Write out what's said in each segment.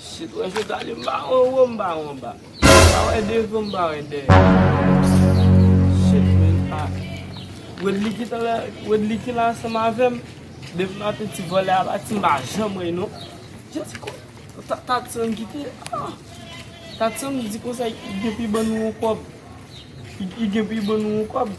Si mwen se tali mba wè an wo mba wè anba Mba wè devan mba wè dèyè Shit men a Wedly ki talè Wedly ki la ansanm avèm Depi maten ti vòlè a pati mpa janm wè non Just ko ta Tatiana ki te a Tatiana di konsa li gen pou li ban nou yon kòb Li gen pou li ban nou yon kòb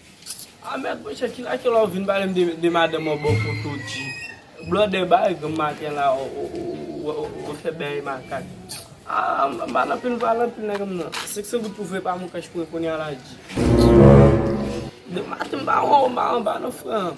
Ah mèd monchè ki lakè la ou vin pale m de madanm an bon kote w di blòdè bay granm maten la ou fè bèy makak ah m pa nan pil m pa nan pil nèg m nan 500 goud pou vre pa moun kach mwen kounya la di de maten m pa nan fran.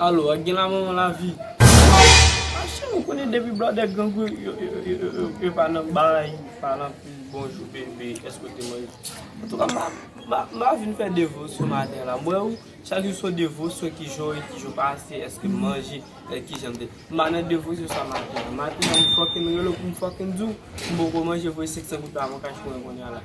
Alo, ak gen la manman lavi. A chè ou konnen depi blòdè grangou yo pa nan bay, pa nan pil bonjou bebe, èske ou te manje. An tou ka m a vin fè devosyon maten la. M wè ou chak jou son devosyon ki jan w ye, ki jan w pase, èske m manje, e ki jan m te. M pa nan devosyon sa maten an. Maten an m fòk m rele w pou m fòk m di w m poko manje voye 500 goud pa m an kach mwen kounya la.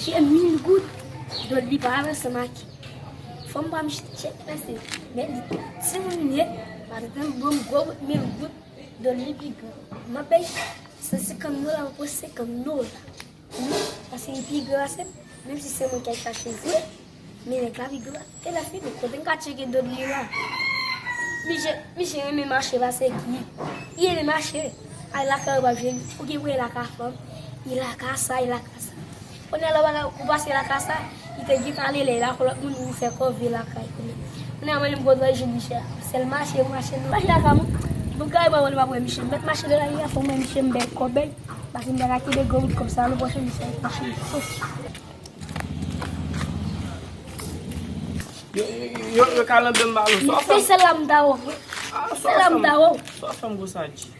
Jè mil goud, do li pa la se ma ki. Fòm pa mjit chè la se. Men li ta. Se moun mwen, pa te tem bon gwo goud mil goud, do li pi gwa. Ma pey, se se kan nou la, pou se kan nou la. Wi, paske li pi gran pase m, menm si se mwen ki al chache l vre, men nèg la pi gran. E lè fini, kote m ka tcheke done li la? Misye, misye renmen mache pase ki? Li renmen mache. Al lakay ou pa jwenn li. Ou gen pou al lakay fanm, li lakay sa, li lakay sa. Kounye a la ou pa ka, ou pase lakay sa. Li te di pale ley la pou lot moun vin fè kò vye lakay kounye kounye a mwen menm gòdòy je misye a sèl mache mache nan mache lakay mwen pou kay mwen mwen pap wè misye mèt mache nan lari a fòm wè misye m bèk kò bèk paske m pa ka kenbe gwo bout kòb sa nan pòch misye a fòk m souf. Yo kalanbem ba lou. Se sèl la m ta ofri. Se sèl la m ta ofri. Sa w fè m gwo sa di.